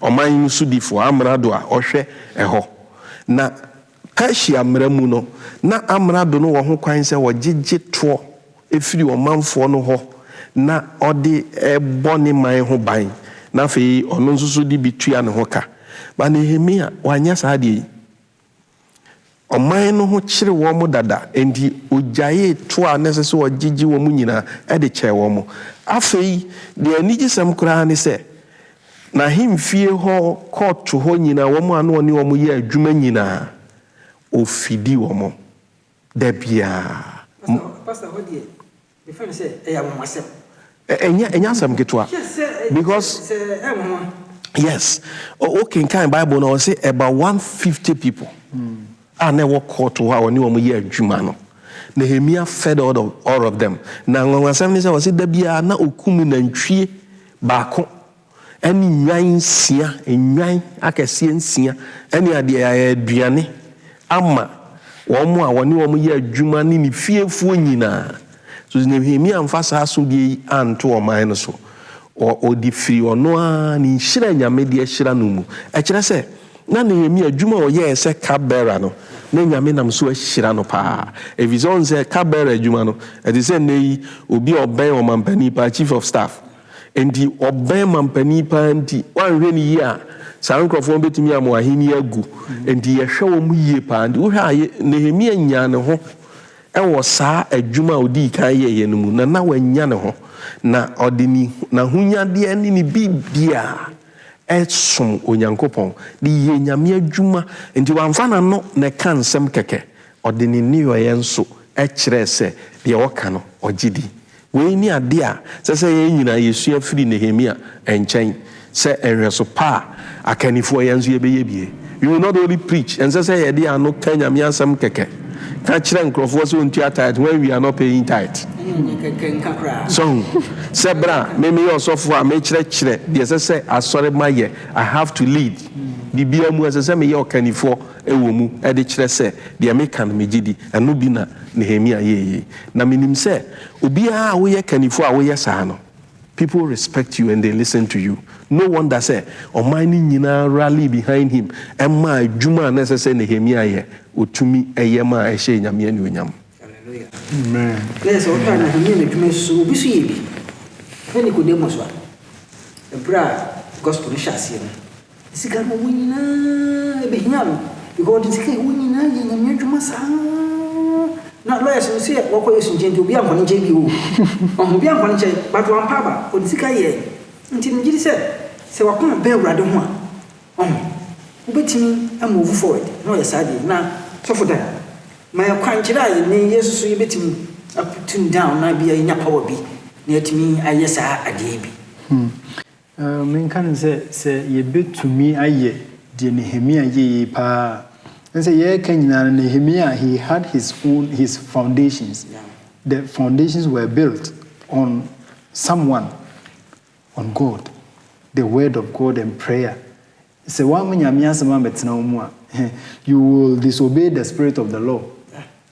ɔman no sodifoɔ, amrado a ɔhwɛ ɛhɔ. Na Persia mmara mu no, na amrado no wɔ ho kwan sɛ ɔgyegye toɔ firi ɔmanfoɔ no hɔ na ɔde bɔ ne man ho ban, na afei ɔno nso so de bi tua ne ho ka. But Nehemia, wanyɛ saa adeɛ yi. Ɔman no ho kyere wɔn dada, enti ɔgyaee toɔ a na ɛsɛ sɛ ɔgyegye wɔn nyinaa de kyɛɛ wɔn. Afei, deɛ anigyesɛm koraa ne sɛ, N'ahemfie hɔ court hɔ nyina wɔn a na ɔne wɔn yɛ adwuma nyina ofidi wɔn da biaa. Pastor pastor hɔ deɛ me fɛ no sɛ ɛyɛ anwanwasɛm. Ɛnyɛ ɛnyɛ asɛm ketewa Hwɛ sɛ ɛ because sɛ sɛ ɛnwanwa. yes o o kenkan bible no ɔse about one fifty people. a na ɛwɔ kɔɔto hɔ a ɔne wɔn yɛ adwuma no, Nehemia fed all of, all of them. Na anwanwasɛm ne sɛ, ɔse da biara na ɔkum nantwie baako ne nnwan nsia, nnwan akɛseɛ nsia ne adeɛ a ɛyɛ aduane ama wɔn a wɔne wɔn yɛ adwuma ne ne fiefoɔ nyinaa. So Nehemia amfa saa asodie yi anto ɔman no so? Ɔ, ɔde firii ɔno ara ne nhyira a Nyame de ahyira no mu. Ɛkyerɛ sɛ, na Nehemia, adwuma a ɔyɛeɛ sɛ cup-bearer no, na Nyame nam so ahyira no pa ara. Ɛfiri sɛ, ɔhu sɛ, cup-bearer adwuma no, ɛte sɛ nnɛ yi obi a ɔbɛn ɔmampanin pa ara, Chief of Staff. Enti, ɔbɛn mampanin pa ara nti, woanhwɛ no yie a, saa nkorɔfoɔ no bɛtumi ama w'ahennie agu. Enti, yɛhwɛ wɔn yie pa ara. Nti, wohwɛ a, Nehemia nyaa ne ho Wɔ saa adwuma a ɔdii kan yɛeɛ no mu no, na wannya ne ho, na ɔde ne n'ahonyadeɛ ne ne biribiara resom Onyankopɔn, de reyɛ Nyame adwuma. Enti wamfa n'ano na ɛka nsɛm kɛkɛ, ɔde ne nneyɔeɛ nso kyerɛɛ sɛ deɛ ɔka no, ɔgye di. Wei ne ade a ɛsɛ sɛ yɛn nyinaa yɛsua firi Nehemia nkyɛn sɛ nhwɛso pa a akannifoɔ yɛn nso yɛbɛyɛ bi. We will not only preach, ɛnsɛ sɛ yɛde ano ka Nyame asɛm kɛkɛ, ka kyerɛ nkorɔfoɔ sɛ wɔntua tithe when we are not paying tithe. So hu sɛ berɛ a me meyɛ ɔsɔfoɔ a mekyerɛkyerɛ deɛ ɛsɛ sɛ asɔremma yɛ, I have to lead, biribiara mu ɛsɛ sɛ meyɛ ɔkannifoɔ. wɔ mu de kyerɛ sɛ deɛ meka no megye di. Ɛno bi na Nehemia yɛɛ yei. Na menim sɛ obiara a woyɛ kannifoɔ a woyɛ saa no, people respect you and they listen to you. No wonder sɛ ɔman no nyinaa rallied behind him maa adwuma a na ɛsɛ sɛ Nehemia yɛ, ɔtumi yɛ maa ɛhyɛɛ Nyame anuonyam. Hallelujah. Sɛ wohwɛ a Nehemia n'adwuma yi so, obi nso yɛ bi. Hwɛ Nicodemus a, ɛberɛ a Gospel no hyɛ aseɛ no, Sika no wo nyinaa ɛbɛhia no because ɔde sika a ɛwɔ nyinaa yɛ nyame adwuma saa na lawyers no sɛ wakɔ yɛ sunkye nti obi ankɔ ne nkyɛn bio ɔho obi ankɔ ne nkyɛn but wampa aba ɔde sika yɛ nti megye di sɛ sɛ wakoma bɛn awurade ho a ɔho wobɛtumi move forward na ɔyɛ saa deɛ na sɔfo dan ma yɛ kwankyerɛ a yɛne yesu so yɛbɛtumi aputun down na bia yɛnya power bi na yɛtumi ayɛ saa adeɛ bi. Hmm. Menka no sɛ, sɛ yɛbɛtumi ayɛ deɛ Nehemia yɛɛi paa a, ɛne sɛ yɛɛka nyinaa no Nehemia he had his own his foundations, the foundations were built on someone, on God, the word of God and prayer Sɛ woamma Nyame asɛm ammɛtena wo mu a, you will disobey the spirit of the law.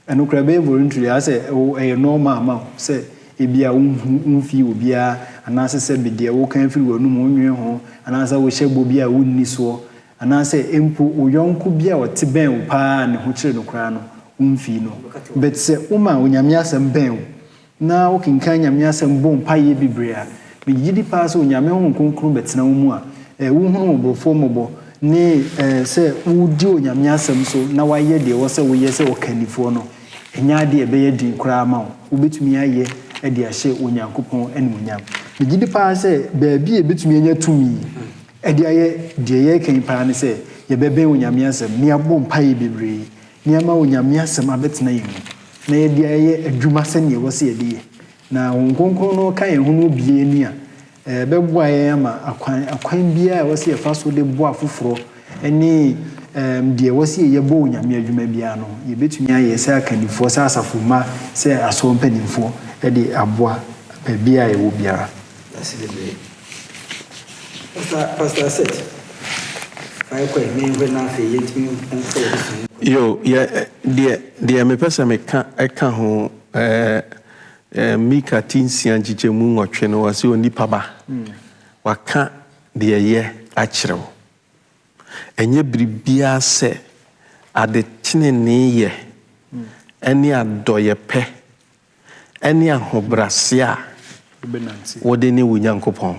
Ɛno koraa ɛbɛyɛ voluntary, ayɛ sɛ ɛyɛ normal ama wo sɛ ebia wonhu womfii obiara anaasɛ sɛbe deɛ woka firi w'anom wonnwene ho anaasɛ wohyɛ bɔ bi a wonni soɔ anaasɛ mpo wo yɔnko bi a ɔte bɛn wo paa a ne ho kyere no koraa no womfii no. But sɛ woma Onyame asɛm bɛn wo na wokenkan Nyame Asɛm bɔ mpae yɛ bibire a, megye di paa sɛ Onyame Honhom Kronkron bɛtena wo mu a eh, wohunu mmɔborofoɔ mmɔbɔ ne eh, sɛ wodi Onyame Asɛm so na wayɛ deɛ ɛwɔ sɛ woyɛ sɛ ɔkannifoɔ no, ɛnyɛ adeɛ a ɛbɛyɛ den koraa ama wo, wobɛtumi ayɛ de ahyɛ Onyankopɔn animuonyam. Megye di paa sɛ baabi a yɛbɛtumi anya tumi de ayɛ deɛ yɛreka yi paa ne sɛ yɛbɛbɛn Onyame Asɛm na yɛabɔ mpae yɛ bibire Ne ama Onyame asɛm abɛtena yɛn mu, na yɛde ayɛ adwuma sɛnea ɛwɔ sɛ yɛde yɛ. Na Honhom Kronkron no ka yɛn ho no obue ani a, ɛbɛboa yɛn ama akwan, akwan biara a ɛwɔ sɛ yɛfa so de boa afoforɔ ne deɛ ɛwɔ sɛ yɛyɛ bɔ Onyame adwuma biara no, yɛbɛtumi ayɛ sɛ akannifoɔ, sɛ asafo mma, sɛ asɔre mpanimfoɔ de aboa baabi a yɛwɔ biara. Pastor pastor Asset fa yɛ kɔɛ menhwɛ na afei yɛntumi nkɔ yɛ sua. Yo, yɛ, deɛ, deɛ mepɛ sɛ meka ɛka ho, ɛɛ, ɛɛ, Mika ti nsia nkyekyɛmu nwɔtwe no, ɔse onipa ba, waka deɛ ɛyɛ akyerɛ wo. Ɛnyɛ biribiara sɛ adeteneneeyɛ ɛne adɔyɛpɛ ɛne ahobrɛase a wode ne wo Nyankopɔn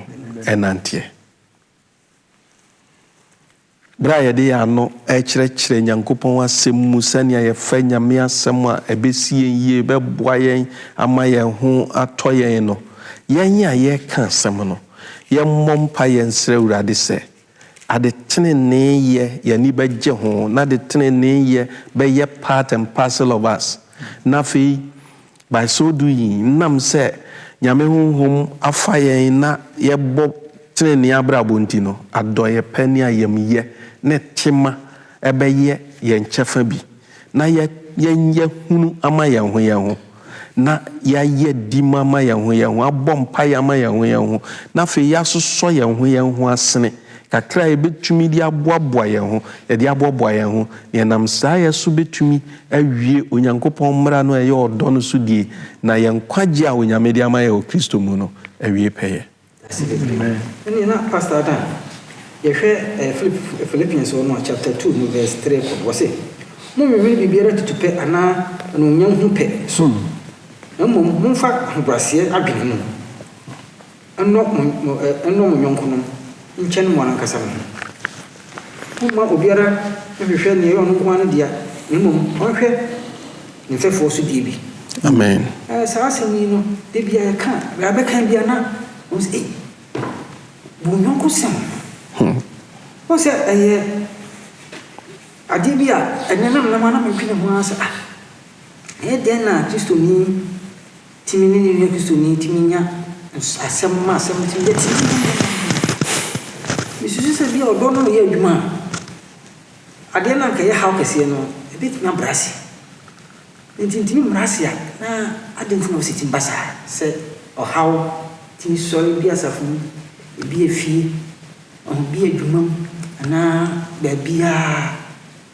nanteɛ. Berɛ a yɛde yɛn ano rekyerɛkyerɛ Nyankopɔn Asɛm mu sɛnea yɛfa Nyame Asɛm a, ɛbɛsi yɛn yie, ɛbɛboa yɛn ama yɛn ho atɔ yɛn no, yɛn a yɛreka asɛm no, yɛmmɔ mpaeɛ nsrɛ Awurade sɛ Adeteneneeyɛ, yɛn ani bɛgye ho, na adeteneneeyɛ bɛyɛ part and parcel of us. Na afei, by so doing, enam sɛ Nyame honhom afa yɛn na yɛbɔ tenenee abrabɔ nti no, adɔeyɛ pa ne ayamyɛ ne tema bɛyɛ yɛn kyɛfa bi. Na yɛ yɛnyɛ hunu ama yɛn ho yɛn ho, na yɛayɛ dimma ama yɛn ho yɛn ho, abɔ mpaeɛ ama yɛn ho yɛn ho, na afei yɛasosɔ yɛn ho yɛn ho asene kakra a yɛbɛtumi de aboaboa yɛn ho, yɛde aboaboa yɛn ho, na yɛnam saa yɛ so bɛtumi awie Onyankopɔn mmara no a ɛyɛ ɔdɔ no so die, na yɛn nkwagyeɛ a Onyame de ama yɛn wɔ Kristo mu no awie pɛyɛ. Dase bebree. Ɛnneɛ na Pastor ada. Yɛhwɛ ɛɛ Philippians hɔ no a, chapter two no verse three kɔ no, ɔse, Monnwennwene biribiara tutupɛ anaa anuonyam ho pɛ so, na mmom momfa ahobrɛaseɛ adwene mu nnɔ mo nnɔ mo yɔnkonom nkyɛn mo ara ankasa mo ho. Momma obiara nhwehwɛ nea ɛyɛ ɔno nko ara ne dea, na mmom ɔnhwɛ ne mfɛfoɔ nso deɛ bi. Amen. Ɛɛ saa asɛm yi no, da bi a yɛka a, bere a bɛkan bi a na wɔn sɛ, ei, bu wo yɔnko sɛn? Hmm. Wɔn sɛ ɛyɛ adeɛ bi a ɛnɛ na mmerɛ mu a na mentwene ho ara sɛ, ah, ɛyɛ dɛn na Kristoni Tumi ne nea ɔyɛ Kristoni tumi nya ns asɛm ma asɛm no tumi yɛ timm. Misusu sɛ ebia ɔdɔ no reyɛ adwuma a, adeɛ no a anka ɛyɛ haw kɛseɛ no, ɛbɛtumi abrɛ ase. Ne nti ntumi mmra ase a, na adɛn nti na ɔsi tumi ba saa? Sɛ ɔhaw tumi sɔre ebi asafo mu, ebi efie, ɔho, ebi adwuma mu, anaa baabiara a.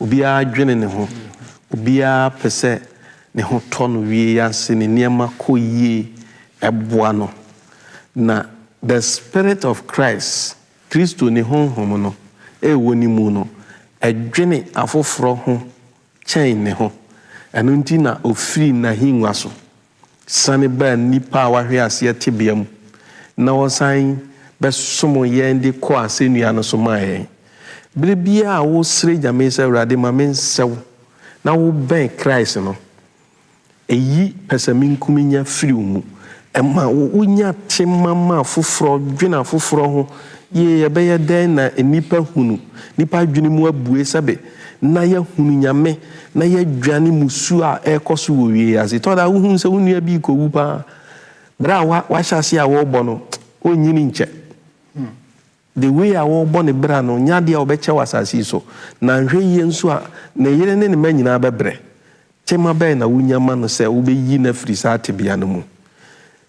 Obiara dwene ne ho. Obiara pɛ sɛ ne ho tɔ no wie ase, ne nneɛma kɔ yie. Ɛboa no. Na the spirit of Christ, Kristo ne honhom no, a ɛwɔ ne mu no, ɛdwene afoforɔ ho kyɛn ne ho. Ɛno nti na ɔfiri n'ahennwa so Sane baa nnipa a wɔahwe aseɛ tebea mu na wɔsan bɛsom yɛn de kɔɔ asɛnnua no so maa yɛn. Berɛ biara a wosrɛ Nyame sɛ, Awurade ma me nsɛ wo na wobɛn Christ no, ɛyi pɛsɛmenkominya firi wo mu. Ɛma wonya tema ma afoforɔ, dwene afoforɔ ho yie. Ɛbɛyɛ dɛn na nnipa hunu, nnipa adwene mu abue sɛbe? na yɛahunu Nyame na yɛadwane mmusuo a ɛrekɔ so wɔ wiase. Tɔ da wohunu sɛ wo nua bi rekɔwu pa ara, berɛ a wahyɛ aseɛ a wɔrebɔ no, ɔnnyini nkyɛ. The way a wɔrebɔ ne bra no, nyɛ adeɛ a ɔbɛkyɛ wɔ asase yi so. Na nhwɛ yie nso a, ne yere ne ne mma nyinaa bɛbrɛ. Tema bɛn na wonya ma no sɛ wobɛyi no afiri saa tebea no mu?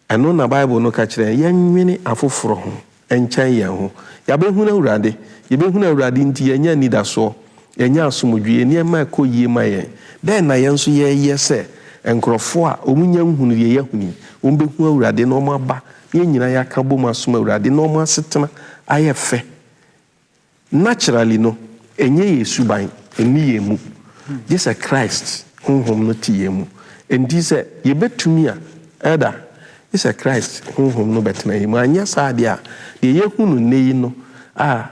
Ɛno na Bible no ka kyerɛ yɛn, yɛnnwene afoforɔ ho nkyɛn yɛn ho. Yɛabɛhunu Awurade. Yɛbɛhunu Awurade nti yɛanya anidasoɔ, yɛanya asomdwoeɛ, nneɛma rekɔ yie ma yɛn. Dɛn na yɛn nso yɛreyɛ sɛ nkurɔfoɔ a wɔnnya nhunuu deɛ yɛahunu yi? Wɔbɛhunu Awurade na wɔaba na yɛn nyinaa yɛaka bom asom Awurade na wɔn asetena ayɛ fɛ Naturally no, ɛnyɛ yɛn suban, ɛnni yɛn mu, gye sɛ Christ Honhom no te yɛn mu. Enti sɛ yɛbɛtumi a, Elder, gye sɛ Christ Honhom no bɛtena yɛn mu. Anyɛ saa deɛ a, deɛ yɛahu no nnɛ yi no a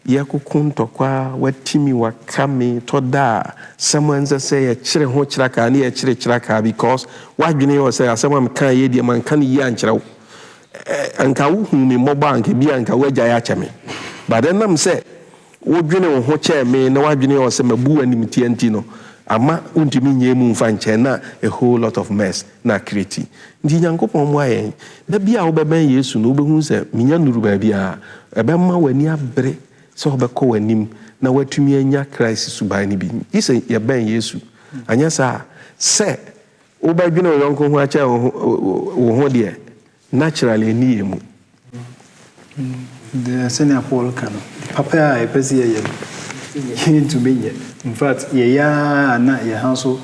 yɛkoko ntɔkwa, wati me, waka me, tɔ da a sɛm a ɛnsɛ sɛ yɛkyere ho kyerɛkaa ne yɛkyere kyerɛkaa because w'adwene yɛ wo sɛ asɛm a mekaeɛ deɛ manka no yie ankyerɛ wo. Anka wohuu me mmɔbɔ a, anka ebia anka woagyae akyɛ me. But ɛnam sɛ wodwene wo ho kyɛɛ me na w'adwene wɔ sɛ mabu wo animtia nti no, amma wontumi nyɛ emu mfa nkyɛ na a whole lot of mess na acreate. Nti Nyankopɔn mmoa yɛn. Da bi a wobɛbɛn Yesu no, wobɛhu sɛ menya nnuru baabi a, ɛbɛma w'ani abere sɛ wobɛkɔ w'anim na woatumi anya Christ suban no bi. Gye sɛ yɛbɛn Yesu. Anyɛ saa a, sɛ. Wobɛdwene wo yɔnko ho akyɛn wo ho, wo ho deɛ, naturally ɛnni yɛn mu. Deɛ sɛnea Paul ka no, papa a yɛpɛ sɛ yɛyɛ no, yɛntumi nyɛ. In fact, yɛyɛ ara na yɛn ha nso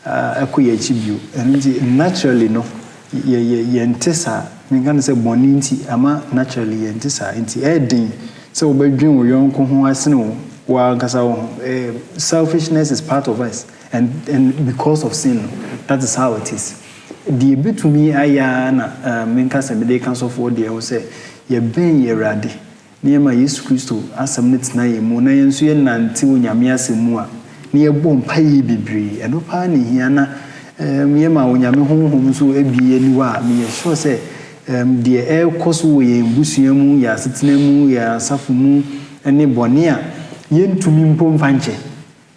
kɔ yɛn akyi bio. Ɛno nti, naturally no, yɛ, yɛ, yɛnte saa. Menka no sɛ bɔne nti, ama naturally yɛnte saa. Nti ɛyɛ den sɛ wobɛdwene wo yɔnko ho asene wo, wo ara ankasa wo ho. Ɛɛ, selfishness is part of us. And and because of sin no, that is how it is. Deɛ ɛbɛtumi ayɛ ara na um, menka sɛ mede reka sɔfoɔ deɛ ho sɛ, yɛbɛn yɛn Awurade na yɛma Yesu Kristo asɛm no tena yɛn mu na yɛn nso yɛnante Onyame asɛm mu a, na yɛbɔ mpaeɛ bebree. Ɛno paa na ɛhia na um, yɛma Onyame Honhom nso abue yɛn aniwa a, meyɛ sure sɛ um, deɛ ɛrekɔ so wɔ yɛn abusua mu, yɛn asetena mu, yɛn asafo mu ne bɔne a yɛntumi mpo mfa nkyɛ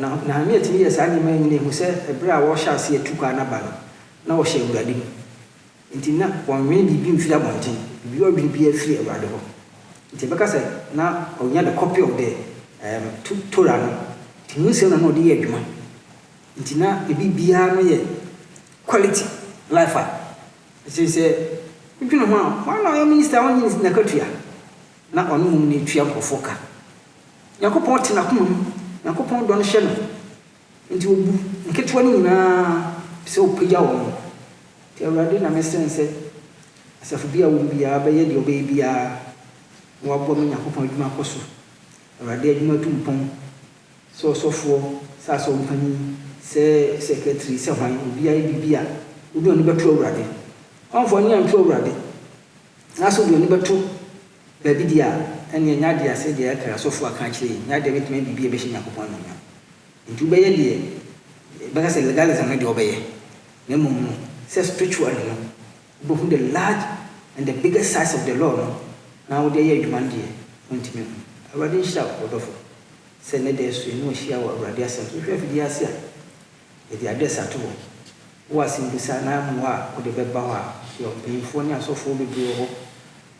Na Nehemia tumi yɛɛ saa nneɛma yi nyinaa hu sɛ bere a wɔrehyɛ aseɛ atu kwan no aba no, na wɔhyɛ Awurade mu. Enti na wɔnnwene biribi mfiri abɔnten, biribi a ɔredwene biara firi Awurade hɔ. Enti yɛbɛka sɛ na ɔnya the copy of the um, Torah no, nti mu nsɛm na na ɔde yɛ adwuma. Nti na ne biribiara no yɛ quality life a ɛkyerɛ sɛ wodwene ho a, wɔn a na ɔyɛ minister a ɔnnye n'akatua, na ɔne mmom na ɛtua nkurɔfoɔ ka. Nyankopɔn te n'akoma mu. Nyankopɔn dɔ no hyɛ no, enti obu nketewa no nyinaa sɛ opagya wɔn. Enti Awurade na mɛsrɛn sɛ asafo bi a wɔwɔ mu biara bɛyɛ deɛ ɔbɛyɛ biara na waboa ma Nyankopɔn adwuma akɔ so. Awurade adwuma atu mpɔn, sɛ ɔsɔfoɔ, sɛ asɔrmpanin, sɛ sɛkɛtri, sɛ hwan, obiara yɛ biribi a, wode ɔne bɛto Awurade. Hwanfoɔ ani anto Awurade, anaasɛ ɔde ɔne bɛto. Dabi deɛ a, ɛnneɛ nyɛ adeɛ a sɛdeɛ ɛkra asɔfoɔ aka akyerɛ yi nyɛ adeɛ a ɛbɛtumi ayɛ biribi a ɛbɛhyɛ Nyankopɔn anuonyam. Enti wobɛyɛ deɛ bɛka sɛ legalism no deɛ wobɛyɛ, na mmom no sɛ spiritually no wobɛhu the large and the biggest size of the law no na wode ayɛ adwuma no deɛ wontumi nhu. Awurade nhyira wo ɔdɔfo sɛ nnɛ da asua ne wahyia wɔ Awurade asɛm so. Wohwɛ afidie yi ase a, yɛde address ato hɔ. Wowɔ asɛmmisa anaa mmoa a wode bɛba hɔ a, yɛwɔ mpanyimfoɔ ne asɔfoɔ bebree wɔ hɔ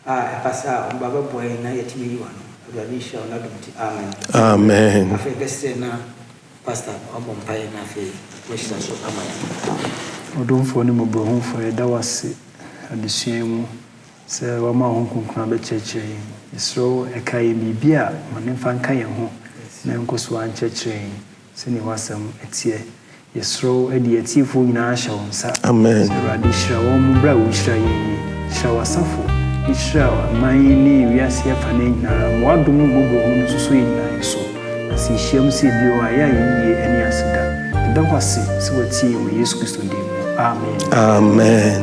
A ɛba saa a, ɔmba bɛboa yɛn na yɛatumi ayi wo ano. Awurade nhyira wo n'adom nti, amen. Amen. Afei bɛsrɛ na Pastor wabɔ mpaeɛ na afei wahyira so ama yɛn. Ɔdomfoɔ ne Mmɔborɔhunufoɔ, yɛda wo ase adesua yi mu sɛ woama wo Honhom Kronkron abɛkyerɛkyerɛ yɛn. Yɛsrɛ wo, ɛka yɛn biribi a, ma no mfa nka yɛn ho na ɛnkɔ so ara nkyerɛkyerɛ yɛn. Sɛdeɛ w'asɛm teɛ. Yɛsrɛ wo de yɛn atiefoɔ nyinaa hyɛ wo nsa. Amen. Sɛ Awurade hyira wɔn berɛ a wohyira yɛn yi. Hyira w'asafo, ne hyira aman ne wiase afa no nyinaa. Ma w'adom ne mmɔborɔhunu no soso yɛn nyinaa yɛ so. Na sɛ yɛhyiam sɛ bio a, yɛ ayeyie ɛne aseda. Yɛda wo ase sɛ watie yɛn wɔ Yesu Kristo din mu. Amen. Amen.